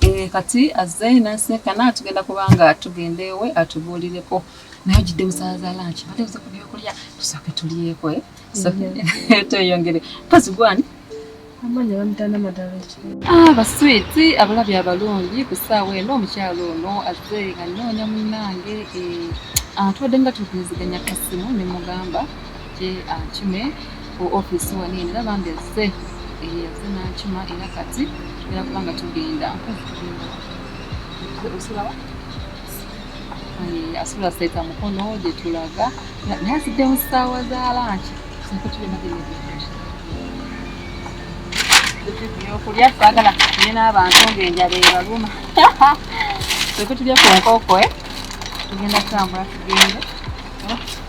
Eh, kati azze naseka naye tugenda kubanga tugenda ewe atubuulireko naye ogidde musaaza lanki bade buze ku byokulya tusooke tulyeko eh? mm-hmm. tweyongere mpozi gwani ah, baswiti abalabi abalungi ku ssaawa eno omukyalo ono azze nga nnoonya munnange eh, atwadde nga tugeziganya kasimu ne mugamba Kye akime ku office wano eno era bambi azze eh, azze n'akima era kati era kuba nga tugenda osulawa eh, asula seeta mukono gye tulaga naye azidde mu ssaawa za lanki ebyokulya twagala tuye n'abantu ng'enjala ebaluma twekutulya ku nkoko eh? tugenda kutambula tugende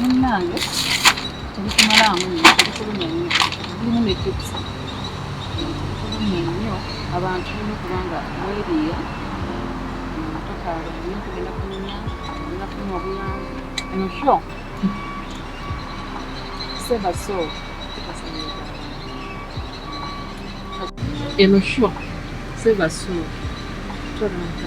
munnange tebikumalamu nyo tebikulumya nyo mulimu ne tips tebikulumya nyo abantu bino okubanga weriya tokaala nyo kugenda kunyumya kugenda kunywa obuyambi eno sho seva so eno sho seva so tolanta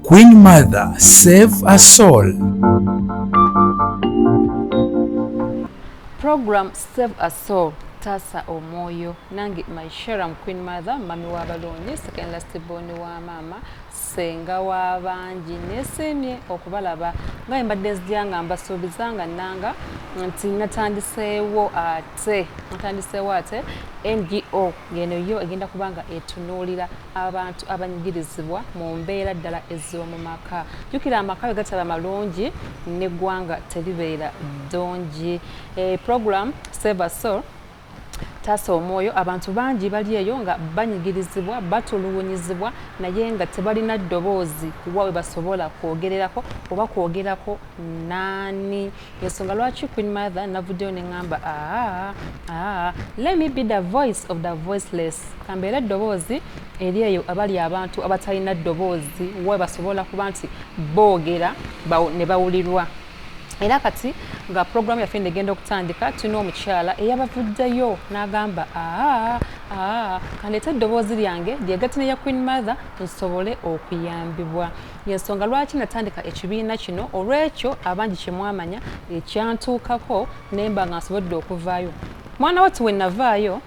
Queen Mother save a soul. Program save a soul taasa omwoyo nange my sharam queen mother mami w'abalungi second last born wa maama senga w'abangi neesiimye okubalaba nga embadde nzija nga mbasuubiza nga nanga nti natandiseewo ate natandiseewo ate ngo ngeno yo egenda kuba nga etunuulira abantu abanyigirizibwa mu mbeera ddala ez'omu maka jjukira amaka bwe gataba malungi n'eggwanga teribeera ddungi eh, program saver soul taasa omwoyo abantu bangi bali eyo nga banyigirizibwa batulugunyizibwa naye nga tebalina ddoboozi kuwa we basobola kwogererako oba kwogerako naani yensonga lwaki queen mother navuddeyo neŋamba aa aa let me be the voice of the voiceless kambeera eddoboozi eri eyo abali abantu abatalina ddoboozi we basobola kuba nti boogera ne bawulirwa era kati nga puroguramu yaffe negenda okutandika tulina omukyala eyabavuddeyo n'agamba aa aa kandeeta eddoboozi lyange lyegatta neya queen mother nsobole okuyambibwa yensonga lwaki natandika ekibiina kino olwekyo abangi kyemwamanya ekyantuukako nemba nga nsobodde okuvaayo mwana watu wenavaayo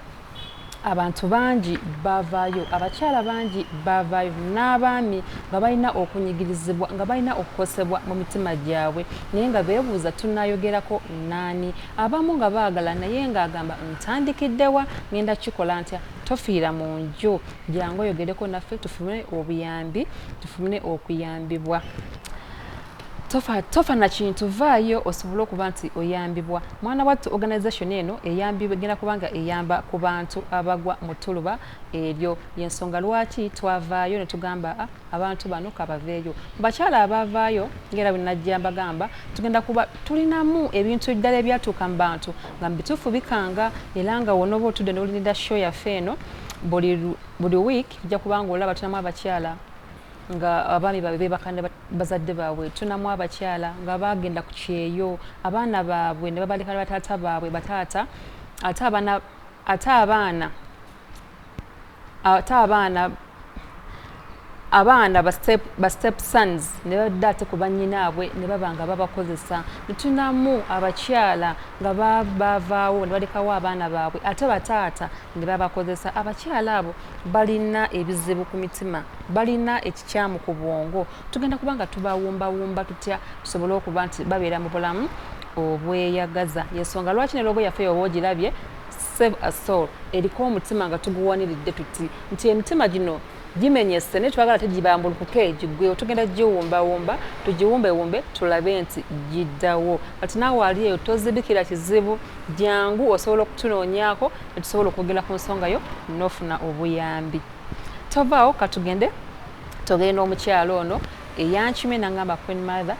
abantu bangi bavaayo abakyala bangi bavaayo n'abaami nga balina okunyigirizibwa nga balina okukosebwa mu mitima gyabwe naye nga beebuuza tunayogerako naani abamu nga baagala naye ng'agamba ntandikiddewa ngenda kikola ntya Tofiira mu nju, jangu oyogereko naffe tufune obuyambi, tufune okuyambibwa. Tofa, tofa na kintu, vaayo osobole okuba nti oyambibwa. Mwana wattu organisation eno eyambibwa egenda kubanga eyamba ku bantu abagwa mu ttuluba eryo. Y'ensonga lwaki twavaayo ne tugamba ah, abantu bano kabaveeyo bakyala abaavaayo ngaera bwenajja mbagamba tugenda kuba tulinamu ebintu ddala ebyatuuka mu bantu nga mubituufu bikanga era nga wonoba otudde nolinida show yaffe eno buli week ojja kubanga olaba tulinamu abakyala nga abaami babe bebakana bazadde baabwe tunamu abakyala nga bagenda ku kyeyo abaana baabwe ne babalekana bataata baabwe bataata ate abaana ate abaana abaana ba step sons ne badda ate ku bannyinaabwe ne baba nga babakozesa netunamu abakyala nga bavaawo ne balekawo abaana baabwe ate bataata ne babakozesa abakyala abo balina ebizibu ku mitima balina ekikyamu ku bwongo tugenda kuba nga tubawumbawumba tutya tusobole okuba nti babeera mu bulamu obweyagaza yensonga lwaki ne loogo yaffe oba ogirabye Save a soul eriko omutima nga tuguwaniridde tuti nti emitima gino gimenyese naye twagala tegibambulukuke gigwewo tugenda giwumbawumba tugiwumbewumbe tulabe nti giddawo kati naawe ali eyo tozibikira kizibu jangu osobola okutunoonyako netusobola okwogera ku nsonga yo nofuna obuyambi tovaawo katugende togenda omukyalo ono eyankimye nangamba queen mother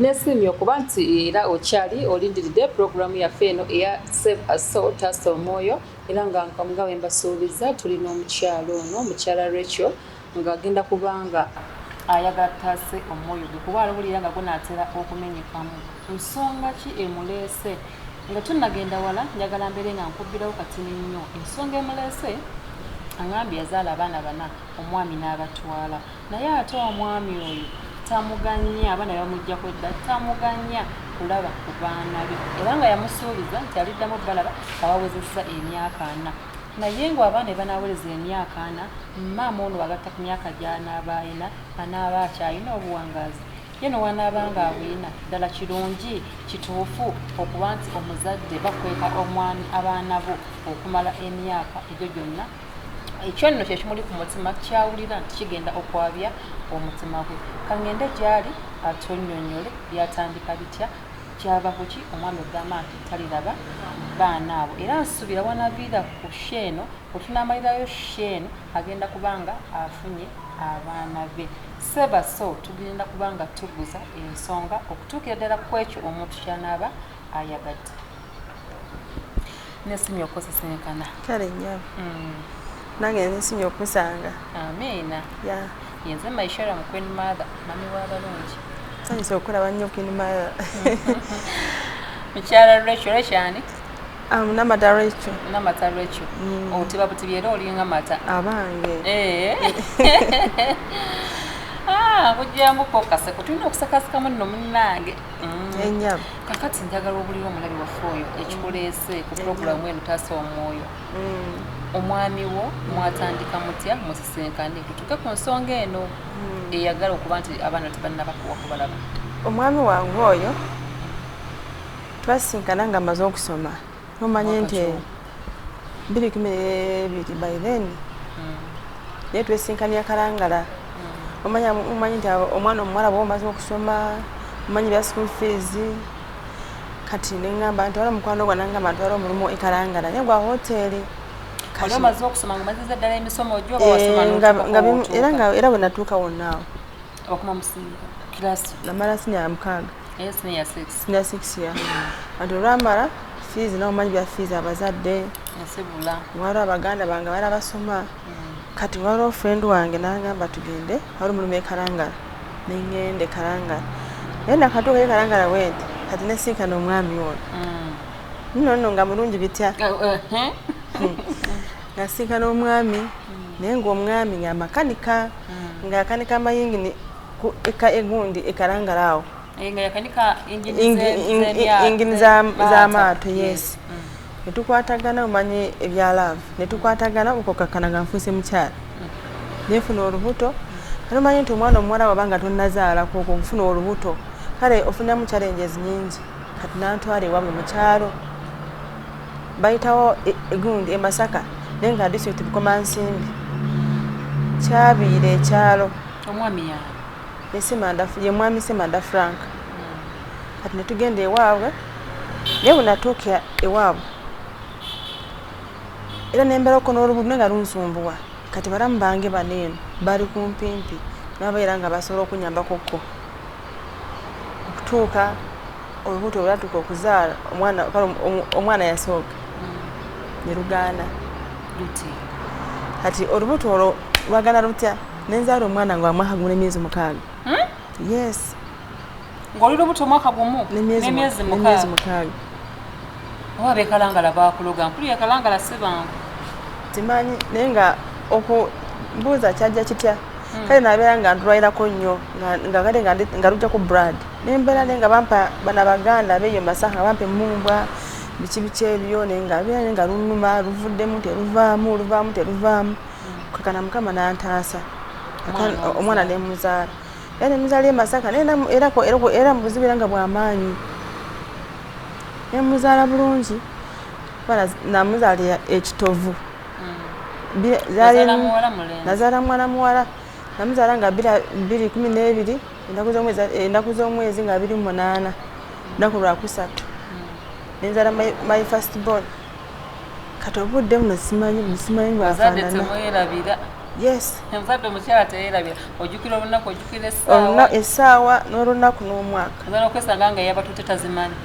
nesiimye okuba nti era okyali olindiridde pulogulaamu yaffe eno eya save aso taasa omwoyo era nga nga we mbasuubiza tuli n'omukyalo ono mukyala rachel ng'agenda kubanga ayagala tutaase omwoyo gwe kuba alowulira nga gunaatera okumenyekamu nsonga ki emuleese nga tunnagenda wala njagala mbeere nga nkubbirawo katini nnyo ensonga emuleese angambye yazaala abaana bana omwami n'abatwala naye ate omwami oyo tamuganya abaana bamujja kwedda tamuganya kulaba ku baana be era nga yamusuubiza nti aliddamu balaba abawezesa emyaka ana naye nga abaana ebanawereza emyaka ana maama ono agatta ku myaka gyanaaba alina anaaba akyalina obuwangazi ye newanaaba nga abulina ddala kirungi kituufu okuba nti omuzadde bakweka omwami abaana bo okumala emyaka egyo gyonna ekyo nno kye kimuli ku mutima kyawulira nti kigenda okwabya omutima gwe kangende gyali atonyonyole byatandika bitya kyava kuki omwami ogamba nti taliraba baana abo era nsubira wanaviira ku sheeno wetunamalirayo sheeno agenda kubanga afunye abaana be sebaso tugenda kubanga tuguza ensonga okutuukira ddala ku ekyo omuntu kyanaaba ayagadde nesimye okusisinkana kale nyabo mm. nange nesimye okusanga amiina ya yenze maishara mu queen mother mami wa balungi sanyise okulaba nnyo queen mother mukyala lwekyo lwekyani Um, namata lwekyo namata lwekyo mm. otiba oh, butibi era olinga mata abange eh. ah, kujjamukokase kutulina okusakasikamu nno munnange mm. kakati njagala obulira omulabi waffe oyo ekikuleese ku pulogulamu eno taasa omwoyo mm. omwami wo mwatandika mutya musisinkane tutuke ku nsonga eno mm. eyagala okuba nti abaana tebannabakuwa kubalaba omwami wange oyo twasinkana nga amaze okusoma omanye nti biri kumi nebiri by then hmm. naye twesinkania kalangala hmm. omanyi nti omwana omuwala bwa omaze okusoma omanyi bya school fees kati neŋamba ntwala omukwano gwa nangamba ntwala omulimu ekalangala naye gwa hoteeri eh, era bwenatuuka wonaawo okuma musinga kilasi namala sinya mukaaga eh, sinya six ya anti olwamala fiizi nawe omanyi bya fiizi abazadde nsibula wali abaganda bange bali abasoma hmm. kati waliwo friend wange nangamba tugende wali omulimu ekalangala nengende kalangala naye nakatuuka ekalangala wente kati nesinkana omwami ono hmm. nono nga mulungi bitya oh, eh, eh. hmm. nasinkana omwami naye ngaomwami nga makanika mm. nga yakanika amayingini ku eka egundi ekalangala awo eh, nga yakanika ingini z'amaato yes mm. netukwatagana omanye ebya love netukwatagana okukakana nga nfuuse mukyala mm. nefuna olubuto anomanyi nti omwana omuwala waba nga tonazaalako okwo okufuna olubuto kale ofunamu challenges nyingi kati nantwala ewabwe mukyalo bayitawo egundi e masaka naye nga district bukomansimbi kyabiira ekyalo omwami ya esimanda ye mwami simanda frank hmm. kati netugenda ewaabwe naye bwenatuuka ewaabwe era nembeera okona olubudu naye nga lunsumbuwa kati balamu bange bano eno bali kumpimpi nabaera nga basobola okunyambakokko okutuuka olubuto olwatuuka okuzaala omwana kale omwana yasooka ne lugaana kati olubuto olwo lwagana lutya nenzaala omwana nga wamwaka gumu nemyezi mukaaga hmm? yes ng'oli lubuto omwaka gumu nemyezi mukaaga oba bekalangala bakuloga mpulira kalangala sibangu timanyi naye nga okubuuza kyajja kitya hmm. kale nabeera nga ndulwairako nnyo nga kale nga lujja ku brad nembeera naye nga bampa bana baganda beeyo masaha nga bampa emumbwa biki biki ebyo naye nga beera naye nga lunuma luvuddemu teruvaamu luvaamu teruvaamu hmm. kakana mukama nantaasa omwana nemuzaala era muzali e masaka era mubuzibu era nga bwamaanyi nemuzaala bulungi namuzaala ekitovu nazaala muwala muwala namuzaala nga biri kumi n'ebiri ennaku z'omwezi nga biri munaana lunaku lwakusatu nenzala my first born kati obudde buno simanyi simanyi bwafaanana bazadde temwerabira yes omuzadde omukyala teyerabira ojukira olunaku ojukira essaawa essaawa n'olunaku n'omwaka ogenda okwesanga nga yabatute tazimanyi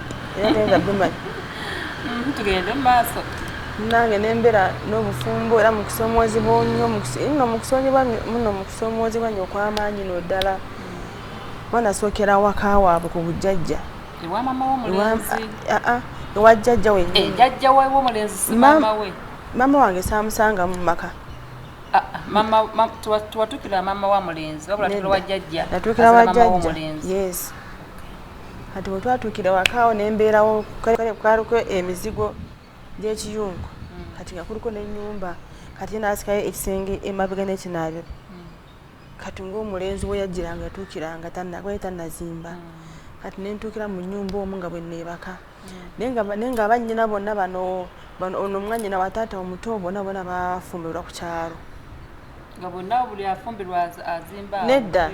nga bimanyi mm-hmm, tugende mu maaso nange nembeera n'obufumbo era mukusoomoozebwa nyo no mukusonyebwa muno mukusoomoozebwa nyo okwamaanyi no ddala mm. mwana asookera waka waabwe ku bujjajja ewa mama wo mulenzi a a ewa jajja we e jajja we wo mulenzi si mama we mama wange samusanga mu maka a a mama ma, tuwa tuwa tukila mama wa mulenzi wabula tukila wa jajja tukila wa jajja yes ati wo tuwa tukila wa kao ne mbera wo kale kwaro ko emizigo je chiyungu mm. kati ngakuruko ne nyumba kati nasikaye ekisenge emabega ne kinabyo kati ng'omulenzi we yajjira nga yatuukira nga tanagwaye tanazimba mm. kati ne ntuukira mu nnyumba omu nga bwe neebaka mm. naye nga bannyina bonna bano ono omwanyina wa taata omuto bona bona bafumbirwa ku kyalo nga bonna buli afumbirwa azimba nedda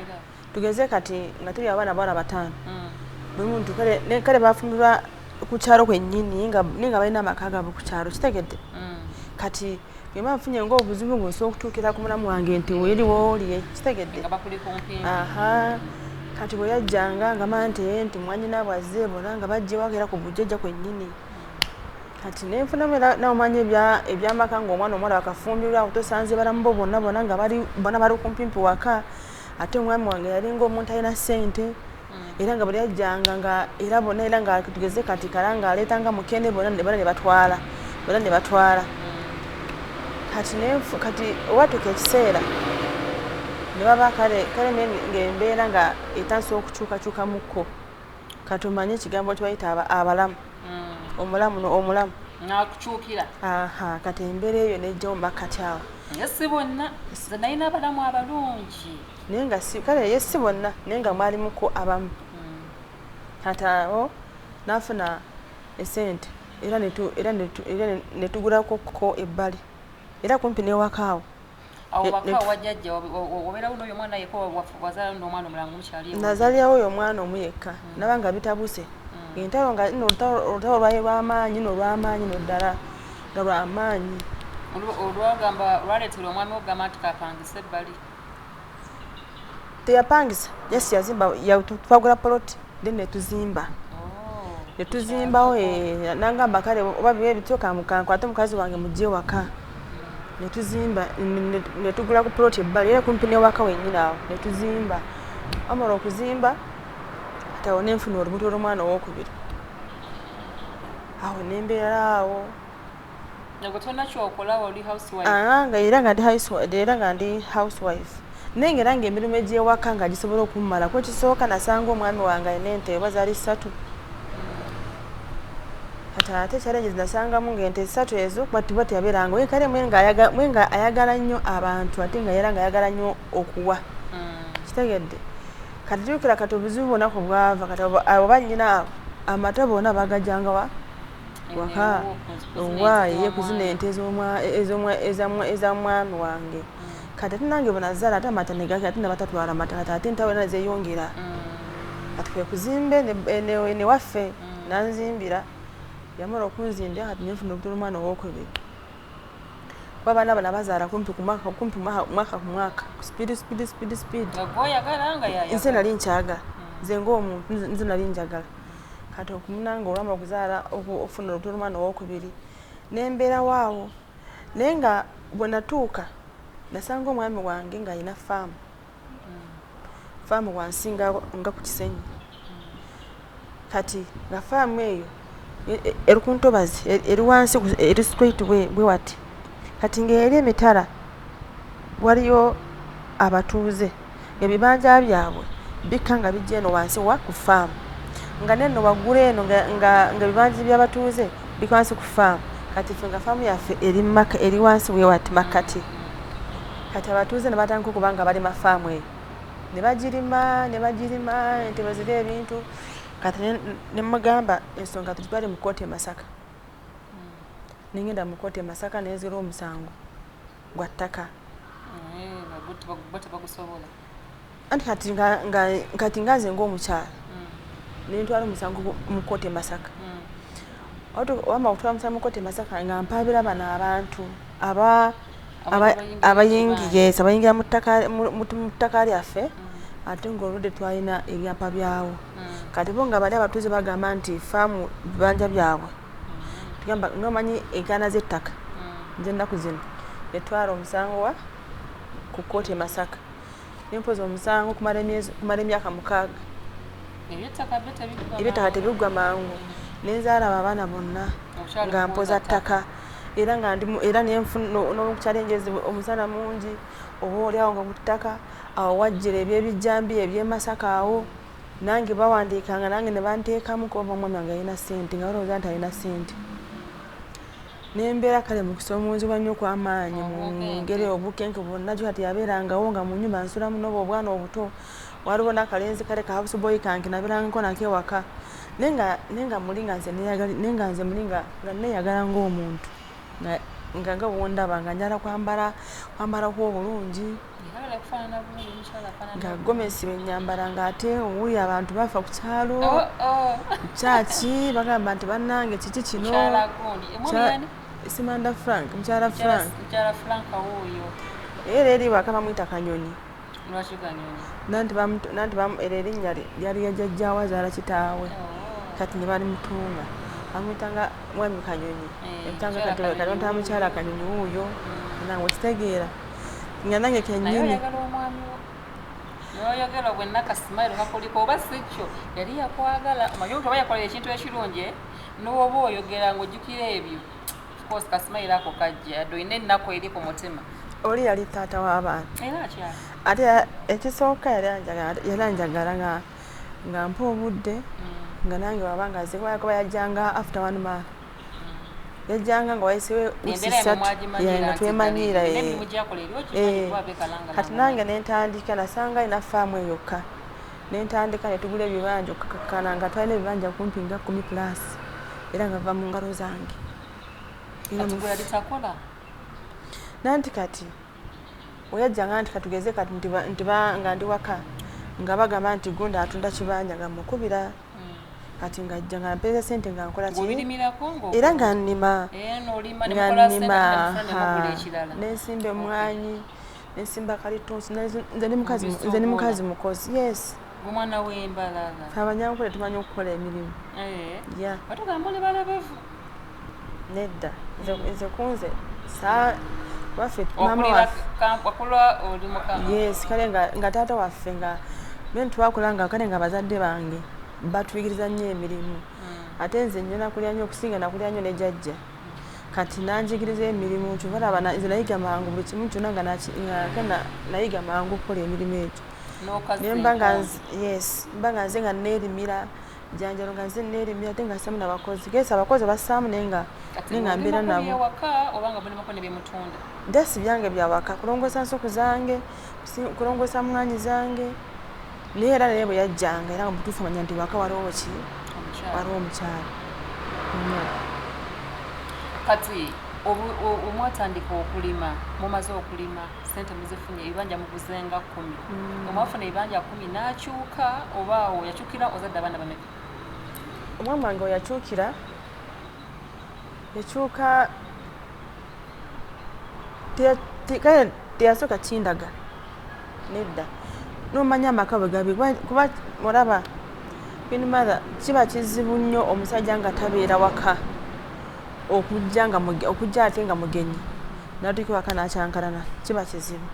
tugeze kati nga tuli abaana bawala bataano mm. buli muntu kale bafumbirwa ku kyalo kwennyini naye nga balina amaka gaabwe ku kyalo kitegedde kati eba nfunye nga obuzibu nga osobola okutuukira ku mulamu wange nti weri woolye kitegedde kati bwe yajjanga nga ma nti eh, nti mwanyina bwazze bona nga bajja ewaka era ku bujjajja kwennyini kati nenfunamu era nawe omanyi ebyamaka nga omwana omuwala wakafumbirwa otosanze balamu bo bonna bona nga bona bali kumpimpi waka ate omwami wange yalinga omuntu alina ssente era nga buli ajjanga nga era bona era nga tugeze kati kala nga aleeta nga mukene bona bona ne batwala bona ne batwala kati nenfu kati owatuka ekiseera ne baba kale kale ng'embeera nga etandisa okukyukakyuka mukko kati omanye ekigambo nti bayita abalamu mm. omulamu omulamu nakukyukira aha kati embeera eyo nejjawo makkati awo naye si bonna nayina abalamu abalungi naye nga si kale ye si bonna naye nga mwalimuko abamu katawo hmm. nafuna esente era netugulako ko ebbali era kumpi newakaawo nazalirawo oyo omwana omu yekka hmm. naba nga bitabuse hmm. entalo nga olutalo lwaye lwamaanyi nolwamaanyi noddala nga lwamaanyi olwagamba lwaleetera omwami okugamba nti kapangisa ebbali teyapangisa just yazimba twagula poloti then netuzimba oh, netuzimbawo eh, nangamba kale oba biba ebityo kankwate omukazi wange mujje waka netuzimba netugula ku poloti ebbali era kumpi newaka wenyini awo netuzimba amala okuzimba tawo nenfuna olubuto lwomwana owokubiri awo nembeera awo Ah, nga era nga ndi housewife era nga ndi housewife naye ngaera nga emirimu egyewaka nga gisobola okumumala ku ekisooka nasanga omwami wange alina ente oba zaali ssatu kati ate challenges nasangamu ngaente ssatu ezo kuba tuba teyabeeranga oye kale mwe nga ayagala nnyo abantu ate nga era nga ayagala nnyo okuwa mm. kitegedde kati jukira kati obuzibu bonaku bwava kati oba nyina amata bona bagajangawa waka owaaye kuzina ente eza mwami wange kati ate nange bwenazala ate amata negakira ate nabatatwala mata kati ate entawe era nezeyongera kati kwekuzimba enewaffe nanzimbira yamala okunzimbira kati nenfuna obutula omwana owokubiri kuba abaana bano abazaala kumpi kumwaka kumpi mwaka ku mwaka speed speed speed speed nze nali nkyagala nze ngaomuntu nze nali njagala kati okumunanga olwama okuzaala okufuna olubuto lwomwana owokubiri nembeerawo awo naye nga bwenatuuka nasanga omwami wange ngaalina faamu faamu wansi nga ku kisenyi kati nga faamu eyo e, e, eri ku ntobazi e, eri wansi eri straight bwe wati kati ngaeri emitala waliyo abatuuze Ebibanja byabwe bikka nga bijja eno wansi wa ku faamu nga nenno waggulu eno nga ebibanja by'abatuuze bikka wansi ku faamu kati ffe nga faamu yaffe eri wansi wewati makkati kati abatuuze ne batandika okuba nga balima faamu eyo ne bagirima ne bagirima ente bwe ziri ebintu kati ne mugamba ensonga tuzitwale mu kkooti e Masaka nengenda mu kkooti e Masaka nenzira omusango gwa ttaka anti kati kati nga nze ngaomukyala mm. nentwala omusango mukote masaka mm. wama okutwala omusango mukote masaka nga mpabira bano abantu aba abayingies abayingira mu ttaka lyaffe mm. ate ngaoludde twalina ebyapa byawo kati bo nga bali abatuuze bagamba nti faamu bibanja byabwe tugamba nomanyi enkaana z'ettaka mm. nze ennaku zino etwala omusango wa ku kkooti e masaka nempoza omusango kumala emyaka mukaaga ebyettaka tebiggwa mangu nenzaalaba abaana bonna nga mpoza ttaka era nga era nenfunaokukyalengezi omusana mungi oba olyawo nga ku ttaka awo wajjira ebyebijjambiya ebyemasaka awo Nange bawandiikanga nange ne banteekamu kuba oba omwami wange yalina ssente nga balowooza nti alina ssente. Ne mbeera kale mu kusoomoozebwa nnyo okw'amaanyi mu ngeri eyo obunkenke bwonna kyo kati yabeerangawo nga mu nnyumba nsulamu n'obo obwana obuto waliwo n'akalenzi kale ka house boy kange nabeerangako nako ewaka naye nga naye nga muli nga nze neeyagali naye nga nze muli nga nga nneeyagala ng'omuntu nga nga nga bw'ondaba nga njala kwambala kwambalako obulungi nga gomesi wenyambala nga ate owuyo abantu bafa ku kyalo oh, oh. kyaki bagamba nti banange kiki kino simanda frank mukyala frank era eri waka bamwita kanyonyi nanti era erinnya lyali yajajjawa zaala kitaawe oh. kati ne bali mutuuma amwitanga mwami kanyonyi eh, emutanga kati mukyala kanyonyi wuuyo mm. nange okitegeera nga nange kenyini noyogera obwe nakasimairo kakuliko oba sikyo yali yakwagala omanyi omuntu oba yakolera ekintu ekirungi eh? nowoba oyogera ngaojjukira ebyo course kasimairo ako kajja yadde olina ennaku eri ku mutima oli yali taata w'abaana ate ekisooka yali anjagala nga nga mpa obudde mm. nga nange waba nga ziwayo kuba yajjanga after one month yajjanga nga wayisewo usisatu nga twemanyiira eh, kati nange nentandika nasanga alina faamu eyokka nentandika netugula ebibanja okukakana nga twalina ebibanja kumpi nga kumi plus era nga va mu ngalo zange nanti kati oyajjanga nti katugeze kati nga ndi waka nga bagamba nti gunda atunda kibanja nga mukubira kati nga ajja nga mpeeza sente nga nkola era nga nnima eh, nga nnima nensimba emwanyi nensimba kalitunsi nze ni mukazi mukozi yes abanyankole tumanyi okukola emirimu eh. nedda nze kunze saa waffe mama yes kale nga, nga taata waffe nga men twakula nga kale nga bazadde bange batuyigiriza nnyo emirimu hmm. ate nze nnyo nakulya nnyo okusinga nakulya nnyo ne jajja kati nanjigiriza emirimu nti balaba nze nayiga mangu buli kimu kyona nga nayiga mangu okukola emirimu egyo nemba nga yes mba nga nze nga nerimira janjalo nga nze nerimira ate nga samu nabakozi gesi abakozi basaamu naye nga ninga mbeera nabojasi byange byawaka kulongosa nsuku zange kulongosa mwanyi zange naye era naye bwe yajjanga era nga mutuufu manya nti waka waliwo ki waliwo omukyalo kati omwatandika okulima mumaze okulima sente muzifunye ebibanja muguzenga kumi mm. omwafuna ebibanja kumi nakyuka oba awo yakyukira ozadde abaana bameka omwami wange oyakyukira yakyuka teyasooka kindaga nedda nomanya amaka bwe gabi kuba olaba binmother kiba kizibu nnyo omusajja nga tabeera waka okujja nga okujja ate nga mugenyi natuuka waka nakyankalana kiba kizibu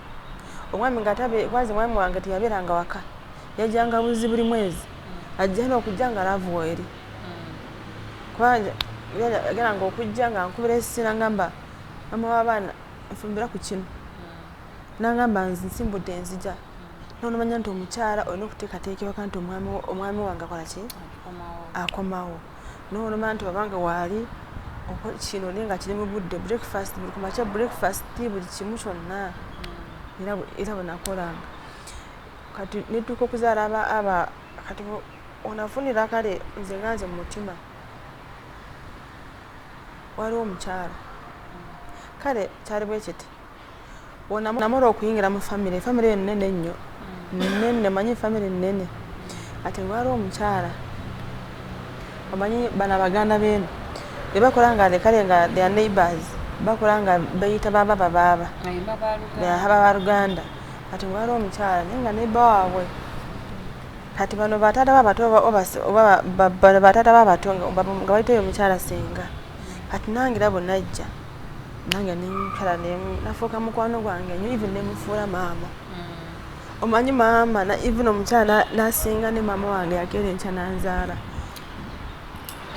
omwami nga tabe kwanza omwami wange teyabeeranga waka yajjanga buzi buli mwezi ajja n'okujja nga laavu weeri kubanga yageranga okujja nga nkubira esisi nangamba mama w'abaana nfumbira ku kino nangamba nze nsimbudde enzija nonomanya nti omukyala olina okuteekateekewaka nti omwami wange akola ki akomawo n'olumala nti waba nga waali kino naye nga kiri mu budde breakfast buli ku makya breakfast buli kimu kyonna era bwenakolanga kati netuuka okuzaala aba aba kati onafunira kale nze nga nze mu mutima waliwo omukyala kale kyali bwekiti namala okuyingira mu famire famire eyo nene nnyo nene manyi famire nene ati wali omukyala omanyi bana baganda beeno ebakola nga kale nga their neighbors bakola nga beyita baba babaaba aba baluganda kati wali omukyala naye nga neba waabwe kati bano bataata babato bataata babato nga bayitayo omukyala singa kati nangira bwenajja nange nenkala nafuuka mukwano gwange nyo even nemufuula maama mm. omanyi maama even omukyala nasinga ne maama wange yakeera enkya nanzaala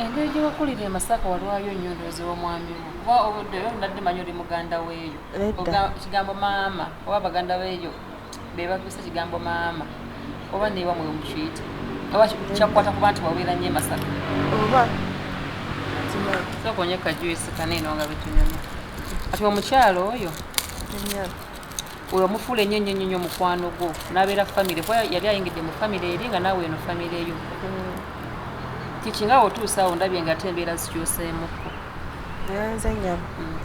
engeri gyewakulira emasaka walwayo nnyo ndoozi womwami wo kuba obuddeyo nadde manyi oli muganda weeyo ekigambo maama oba baganda beeyo bebakozesa kigambo maama oba newa mwe mukiyita oba kyakukwata kuba nti wabeera nnyo emasaka oba sokonye kajuisi kaneeno nga betunyuma ati omukyalo oyo oyo omufuula enyo enyo enyo omukwano gwo nabeera famire kuba yali ayingidde mu famire eri nga naawe eno famire yo mm. kikinga otuusaawo ndabye nga ate embeera zikyuseemukko nze nyama mm,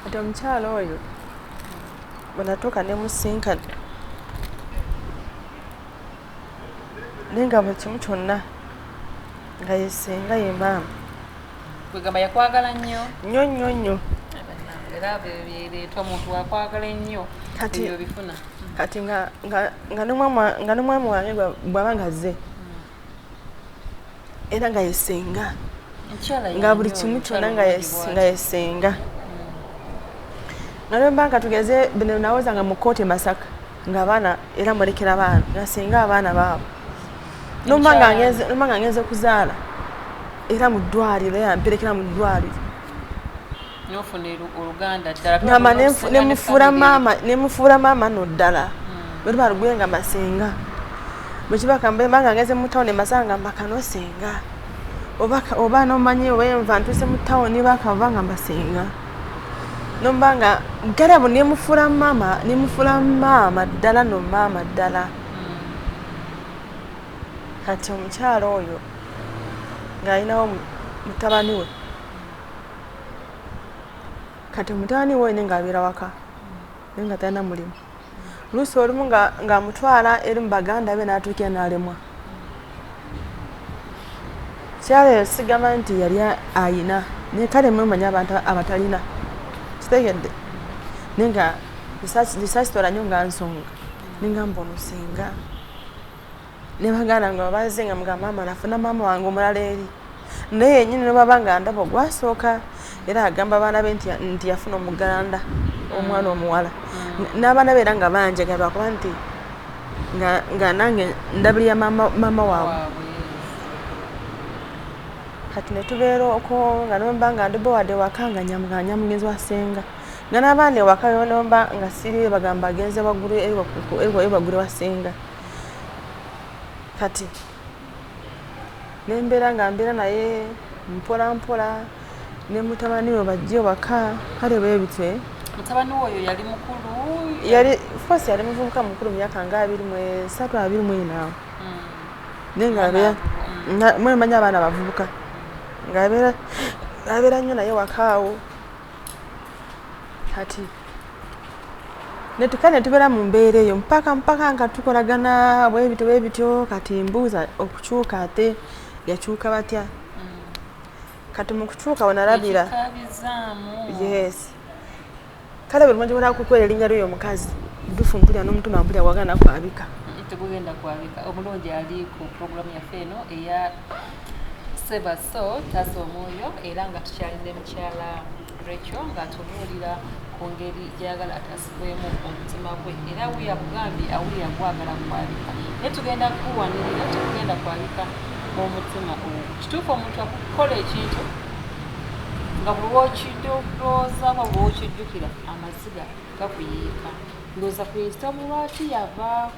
kati omukyala oyo bwenatuuka ne musinkana naye nga buli kimu kyonna nga yesinga ye maama kwegamba yakwagala nnyo nnyo nnyo nnyo era byebireeta omuntu wakwagala ennyo ebyobifuna kati nga nomwami wange bwaba nga zze era nga yesenga nga buli kimu kyona nga yesenga nalwemba nga tugeze bino nawoza nga mukooti masaka nga abaana era mulekera baana nga senga abaana baabo nomba nga ngenze kuzaala era mu ddwaliro yamperekera mu ddwaliro ngamba nemufuula maama no ddala hmm. bwetuba lugwe nga masenga bwekibakambanga ngeze mu tawuni masanga mbakano senga oba nomanyi oba enva ntuse mu tawuni bakava nga masenga nomba nga galabu nemufuula maama nemufuula maama ddala no maama ddala kati omukyalo oyo ng'alinawo mutabani we kati mutabani wo ine ng'abeera waka naye nga talina mulimu luusi olumu ng'amutwala eri mu baganda be n'atuukira n'alemwa kyaleero sigamba nti yali ayina naye kale mwemanya abantu abatalina kitegedde naye nga lisasitola nyo nga nsonga nengamba omusinga nebaganda nga babanze nga muga maama nafuna maama wange omulala eri naye yenyini nobaba nga ndaba ogwasooka era agamba abaana be nti yafuna omuganda omwana mm. omuwala mm. n'abaana be era nga banjega lwakuba nti nga nange ndabirira maama waabwe kati netubeera okwo nga nomba nga ndi bowade waka nga nyamuganya mugenzi wa senga nga n'abaana ewaka yonomba nga siri bagamba agenze waggulu ewagule wa senga mm. kati nembeera nga mbeera naye mpola mpola ne mutabani we bajja ewaka kale bwebityo eh. mutabani we oyo yali mukulu yali fos yali muvubuka mukulu mumyaka nga abiri mwesatu abiri mwinaawo hmm. naye nga abeera hmm. mwemanyi abaana bavubuka ngaabeera nnyo naye wakaawo kati netukale netubeera mu mbeera eyo mpaka mpaka nga tukolagana bwebityo bwebityo kati mbuuza okukyuka ate yakyuka batya mm. kati mukukyuka wenalabira yes kale buli mwenja bwenakukwera erinnya lyoyo omukazi dufu mpulira n'omutima mpulira wagana kwabika mm, tegugenda kwabika omulungi ali ku programu yaffe eno eya seba so taza omwoyo era nga tukyali ne mukyala rekyo ng'atubuulira ku ngeri gyayagala atasibwemu omutima gwe era weyakugambye awulira gwagala kwabika naye tugenda kukuwanirira tekugenda kwabika omutima ogwo kituufu omuntu akukola ekintu nga bwewokidolwoozako bwewokijjukira amaziga gakuyiika ndooza ku nsitamu lwaki yava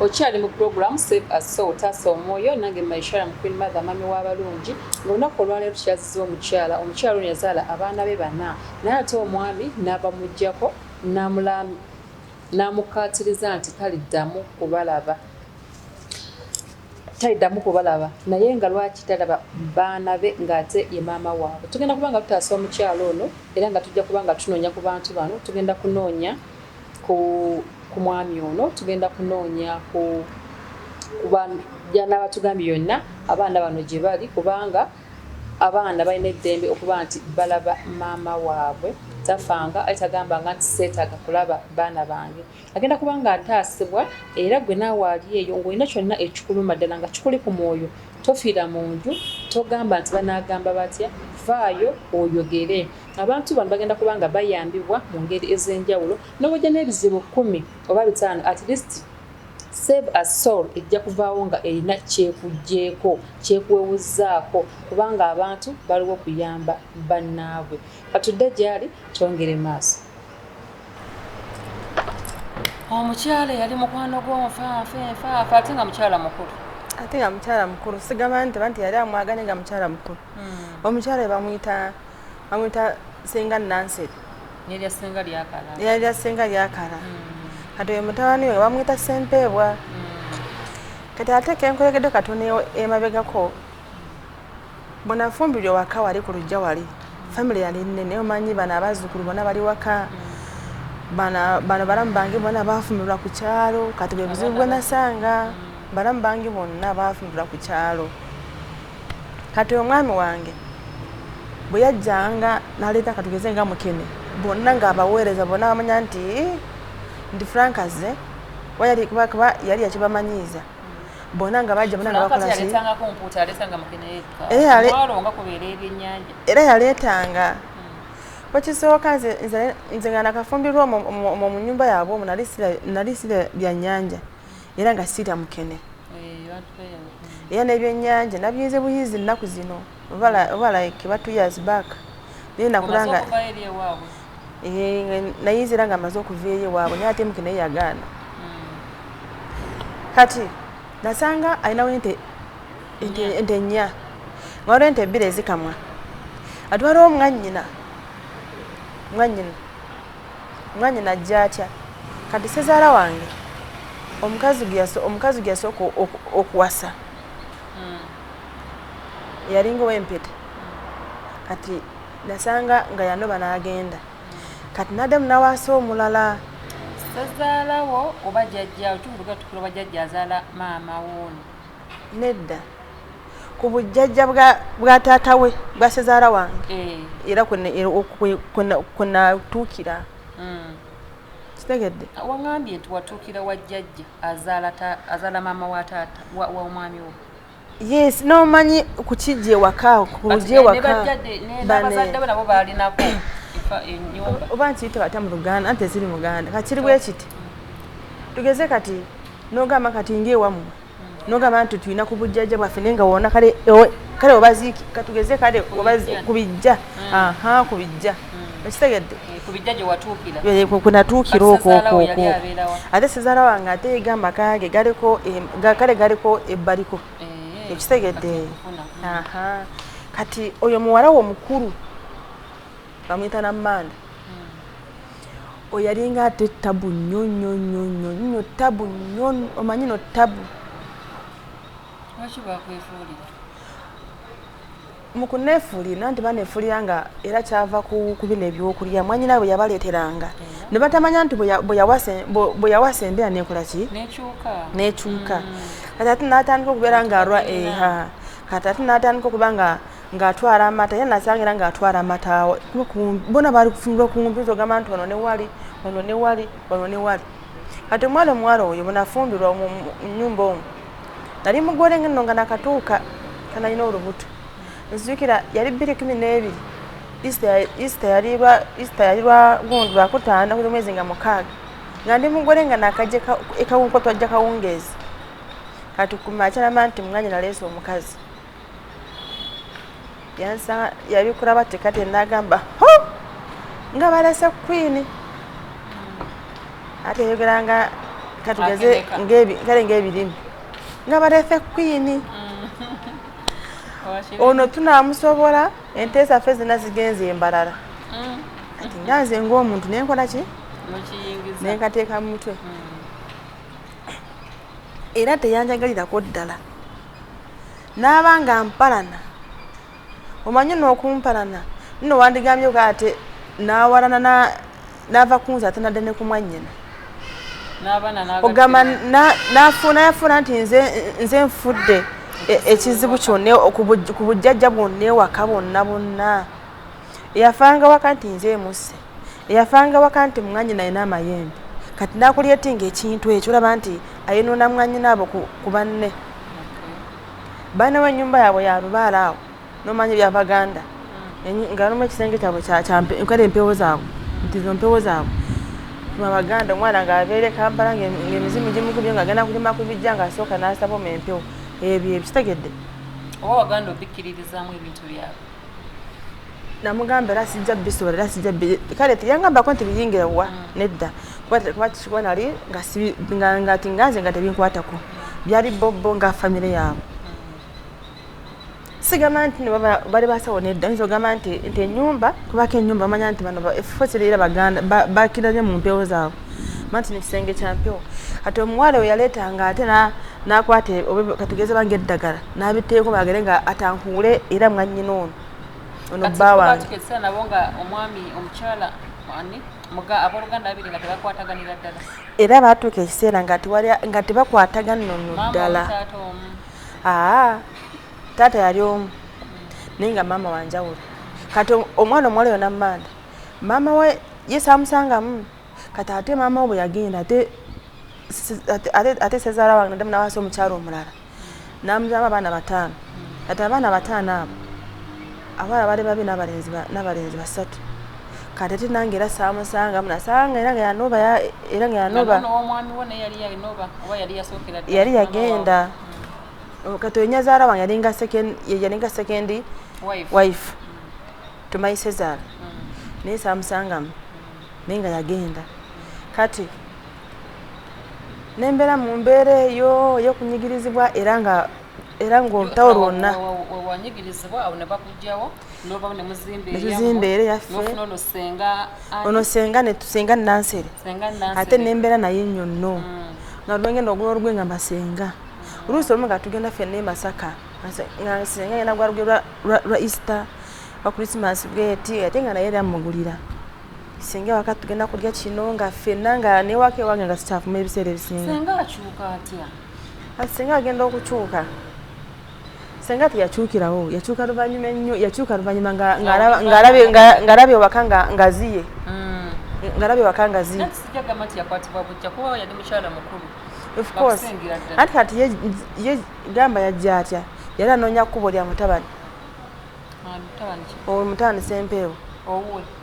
okyali mu program save as soul taasa omwoyo nange maishara mu queen mother mami w'abalungi ngaolunaku olwaleero tukyaziza omukyala omukyala ono yazaala abaana be bana naye ate omwami n'abamuggyako n'amukkaatiriza nti taliddamu kubalaba taliddamu kubalaba naye nga lwaki talaba baana be ng'ate ye maama waabwe tugenda kuba nga tutaasa omukyalo ono era nga tujja kuba nga tunoonya ku bantu bano tugenda kunoonya ku ku mwami ono tugenda kunoonya ku kuba byanaaba tugambye yonna abaana bano gye bali kubanga Abaana balina eddembe okuba nti balaba maama waabwe tafanga ali tagambanga nti seetaaga kulaba baana bange agenda kuba ng'ataasibwa era gwe naawe ali eyo ng'olina kyonna ekikuluma ddala nga kikuli ku mwoyo tofiira mu nju togamba nti banaagamba batya vaayo oyogere abantu bano bagenda kuba nga bayambibwa mu ngeri ez'enjawulo n'obujja n'ebizibu kkumi oba bitaano at least Save a soul ejja kuvaawo nga erina kyekujjeeko, kyekuwewuzzaako kubanga abantu baliwo kuyamba bannaabwe. Katudde gyali twongere maaso. Omukyala eyali mukwano gw'onfanfa enfanfa ate nga mukyala mukulu. Ate nga mukyala mukulu sigamba nti banti yali amwagane nga mukyala mukulu. Hmm. Omukyala bamuyita bamuyita senga Nanseri. Nelya senga lyakala. Nelya senga lyakala. Mm. Kati oyo mutabani we bamwita Sempeebwa. Mm. Kati ate kenkoyegedde katuni emabegako bwenafumbirwa waka wali ku lujja wali family yali nnene omanyi bano abazzukulu bona bali waka bano balamu bange bona bafumirwa ku kyalo kati bwebuzibu bwenasanga balamu bange bonna bafumirwa ku kyalo kati omwami wange bwe yajjanga n'aleeta katugeze nga mukene bonna ng'abaweereza bonna bamanya nti nti frank azze kuba yali kuba kuba yali yakibamanyiiza bonna nga bajja bonna nga bakola ki Eh, ale- era yaleetanga bwekisooka nze nze- nze nga nakafumbirwa omwo omwo- omwo mu nyumba yaabwe omwo nali sira- nali sira bya nnyanja era nga siita mukene eh, era nebyenyanja nabiyinze buyinzi ennaku zino oba like ba two years back naye nakula nga eh, nayinza era nga amaze okuva eri ewaabwe naye ate mukene yagaana hmm. kati nasanga alinawo ente ente nnya nga waliwo ente ebbiri ezikamwa atwala omwanyina mwanyina Mwanyina ajja atya? Kati ssezaala wange omukazi gwe yaso, omukazi gwe yasooka o- oku- okuwasa yalinga ow'empeta kati nasanga nga yanoba n'agenda kati n'addamu n'awasa omulala ssezaala wo oba jajjaawo tuvuga tukula oba jajja azaala maama woono nedda ku bujjajja bwa taata we bwa sezaala wange eh. era kwenatuukira eh, hmm. kitegedde ah, wagambye nti watuukira wa jjajja azaala maama wa taata wa omwami wo yes nomanyi kukijja ewaka kuja ewakabanabo balinako oba nti tebata mu luganda anti eziri muganda kakiri bwekiti tugeze kati nogamba kati ngaewamu nogamba nti tulina ku bujjajja bwaffe naye nga wona kale kale obaziiki katugeze kale ku bijja mm. aha ku bijja mm. ekitegedde eh, kunatuukira eh, okwokwokwo ate sizaala wange ate egamba kage galiko kale galiko ebbaliko eh, ekitegedde kati oyo muwala wo mukulu bamuyita nammanda oyo yalinga ate tabu nnyo nnyo nnyo nnyo nnyo tabu nnyo omanyi no tabu mu kuneefuulira nti baneefuulira nga era kyava ku bino ebyokulya mwanyina bwe yabaleeteranga ne batamanya nti bwe yawasa embeera neekola ki neekyuka mm. kati ate n'atandika okubeera ng'alwa eha kati ate n'atandika okuba nga ng'atwala amata era nasanga era ng'atwala amataawo bona baali kufunira okumpi nti ogamba nti ono ne wali ono ne wali ono ne wali kati omwana omuwala oyo bwenafumbirwa mu nyumba omu nali mugole ngeno nga nakatuuka kanalina olubuto nzijukira yali bbiri kumi n'ebiri isita yali lwa gundu lwakutaano kuli mwezi nga mukaaga nga ndi mugole nga nakajja ekawunko twajja kawungeezi kati kumakya namba nti munganya naleesa omukazi yansanga yabikura bati kati nagamba ho nga balese kwini ate yogera nga katugeze kale ngaebirimi nga balese kwini mm. ono tunamusobola ente zaffe zina zigenza embalala mm. ati nga nze ngaomuntu nenkola ki nenkateeka mumutwe mm. era teyanjagalirako ddala n'aba nga mpalana omanyi n'okumpalana nno wandigambye ko ate n'awalana n'ava kunze ate nadde ne kumwannyina ogamba nafuuna yafuuna nti nze nfudde e, ekizibu kyonna ku bujjajja bwonna ewaka bwonna bwonna yafanga waka nti nze emusse eyafanga waka nti mwanyina alina amayembe kati nakulyetinga ekintu ekyo olaba nti ayonoona mwanyina abo ku banne baana wenyumba yaabwe yalubaala awo nomanya ebyabaganda hmm. nga nomu ekisenge kyabwe kale empewo zaabwe nti zo mpewo zaabwe abaganda omwana ngaabeere kampala ngaemizimu gimukubye nga agenda kulima ku bijja ngaasooka naasaba omu empewo ebyo ebikitegedde oba waganda obikkiririzamu ebintu byabwe namugamba era sijja bisobola era sijja kale yangambako nti biyingire wa mm. nedda kuba kikuba nali ngati nganze nga tebinkwatako byali bobbo nga famire yaabwe sigamba nti bali basawo nedda nyinza ogamba nti enyumba kubako enyumba manya nti bano efo siriira baganda bakira nyo mu mpewo zaabwe manti ne kisenge kya mpewo ati omuwala we yaleetanga ate n'akwata e, katugeze bange eddagala n'abitteeko bagere nga atankuule era mwannyina ono ono bba wange era baatuuka ekiseera nga tebakwataganno no ddala taata yali omu naye nga maama wanjawulo kati omwana omuwala yona mumanda maama we ye saamusangamu kati ate maama we bwe yagenda ate ate sezaala wange naddamu nawasa omukyalo omulala namuzamu abaana bataano kati abaana bataano abo abaana bali babi n'abalenzi basatu kati ate nange era saamusangamu nasanga era nga yanoba era nga yanoba yali yagenda kati onyazaala wange yalinga sekendi wife to my cesar naye samusangamu naye nga yagenda kati nembeera mu mbeera eyo yokunyigirizibwa era nga era ngaolutawo lwonna netuzimba era yaffe ono senga netusenga nansere ate nembeera naye nyonno mm. nga lwengenda ogula olugwe nga masenga oluusi olumu nga tugenda ffe nemasaka nga senga yena gwalugera lwa easter wa christmas bweti ate nga naye era mugulira singa ewaka tugenda kulya kino nga ffenna nga newaka ewange nga sikyafuma ebiseera ebisinga singa akyuka atya ati singa agenda okukyuka senga teyakyukirawo yakyuka luvannyuma ennyo yakyuka luvannyuma ng'alaba ewaka ngaziye mm. ng'alaba ewaka ngaziye anti kati ye gamba yajja atya yali anoonya kkubo lya mutabani omutabani sempeewo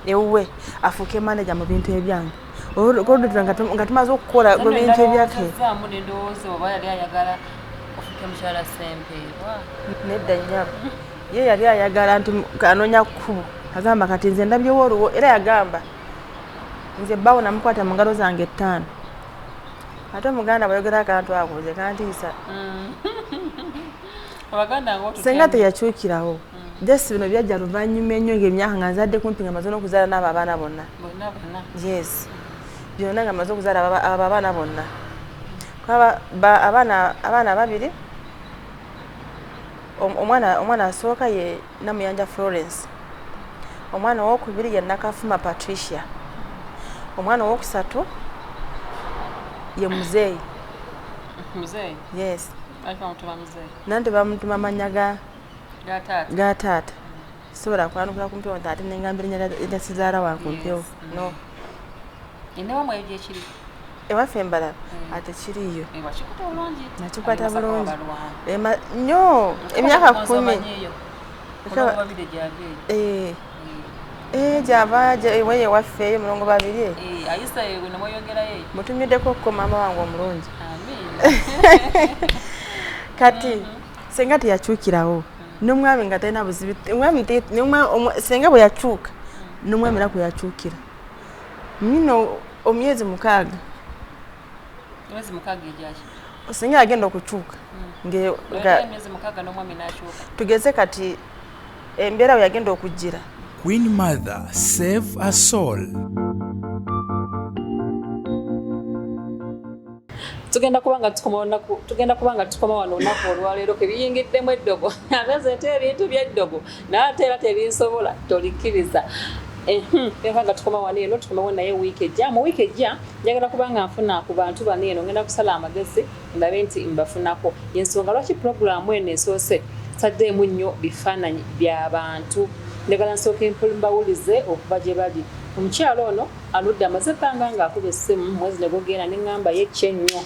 ewuwe afuuke maneja mu bintu ebyange oludda nga tumaze okukola mu bintu ebyake nedda nyabo ye yali ayagala nti anoonya kkubo agamba kati nze ndabyewo oluwo era yagamba nze bawo namukwata mu ngalo zange ettaano ate omuganda bwayogera akantu ako nze kantiisa mm. senga teyakyukirawo mm. just bino byajja luvannyuma ennyo ngaemyaka nga nzadde kumpi nga maze nokuzaala naabo abaana bonna yes byonna nga maze okuzaala abo abaana bonna abaana babiri omwana asooka ye Namuyanja Florence, omwana owokubiri ye Nakafuma Patricia, omwana owokusatu ye muzeeyi muzeeyi yes nandi bamutuma manya ga ga taata sobola kwanukula ku mpewo nti ate nengamba erinya lya sizaala wa ku mpewo no ewaffe mbalala hmm. ate kiriyo nakikwata bulungi nyo emyaka kumi eh. hmm. eh, gyava weye ewaffe eyo mulongo babiri eh, mutumiddeko okuko maama wange omulungi kati hmm. senga teyakyukirawo nomwami nga talina buzibu senga bwe yakyuka nomwami naku yakyukira mino omyezi mukaaga emyezi mukaaga egyaki osinga agenda okukyuka tugeze kati embeera we yagenda okujjira queen mother save a soul tugenda kuba nga tukoma olunaku tugenda kuba nga tukoma wano olunaku olwaleero kebiyingiddemu eddogo ageze nti ebintu byeddogo naye ate era tebinsobola tolikkiriza eha nga tukoma wano eno tukomewo naye wiiki ejja mu wiiki ejja njagala kuba nga nfuna ku bantu bano eno ngenda kusala amagezi ndabe nti mbafunako yensonga lwaki pulogulaamu eno esoose saddeemu nnyo bifaananyi bya bantu njagala nsooka empulu mbawulize okuva gye bali omukyalo ono aludde amaze ebbanga ng'akuba essimu mwezi ne gugenda ne ŋŋamba ye kye nnyo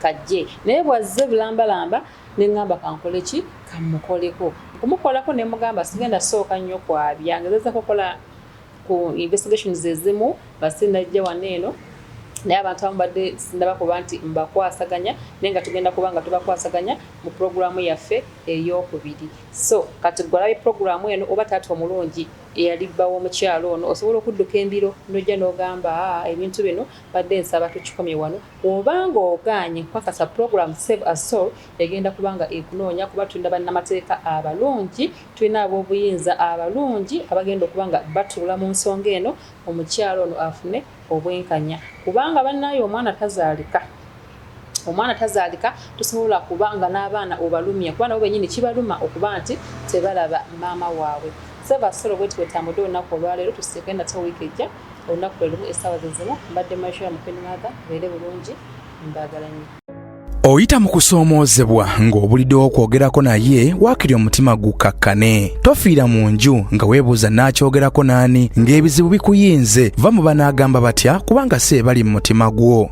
kajje naye bw'azze bulambalamba ne ŋŋamba kankole ki kamukoleko okumukolako ne mugamba sigenda sooka nnyo kwabya ngezeza kukola ku investigations ezimu nga sinajja wano eno naye abantu abamu badde sindaba kuba nti mbakwasaganya naye nga tugenda kuba nga tubakwasaganya mu pulogulaamu yaffe ey'okubiri so kati gwalabe pulogulaamu eno oba taata omulungi eyali bba w'omukyala ono osobola okudduka embiro n'ojja n'ogamba aa ebintu bino badde nsaba tukikomye wano oba ng'ogaanye nkukakasa pulogulaamu save a soul egenda kubanga ekunoonya kuba tulina bannamateeka abalungi tulina ab'obuyinza abalungi abagenda okuba nga batuula mu nsonga eno omukyala ono afune obwenkanya kubanga bannaayo omwana tazaalika omwana tazaalika tosobola kuba nga n'abaana obalumya kuba nabo benyini kibaluma okuba nti tebalaba maama waabwe saba solo bweti wetambudde olunaku olwaleero tusiike nate wiiki ejja olunaku lwe lumu essaawa ze zimu mbadde maisha mukeni maatha beere bulungi mbaagala nnyo oyita mu kusoomoozebwa ng'obuliddewo okwogerako naye waakiri omutima gukkakkane tofiira mu nju nga weebuuza n'akyogerako n'ani ng'ebizibu bikuyinze va mu banaagamba batya kubanga si ebali mu mutima gwo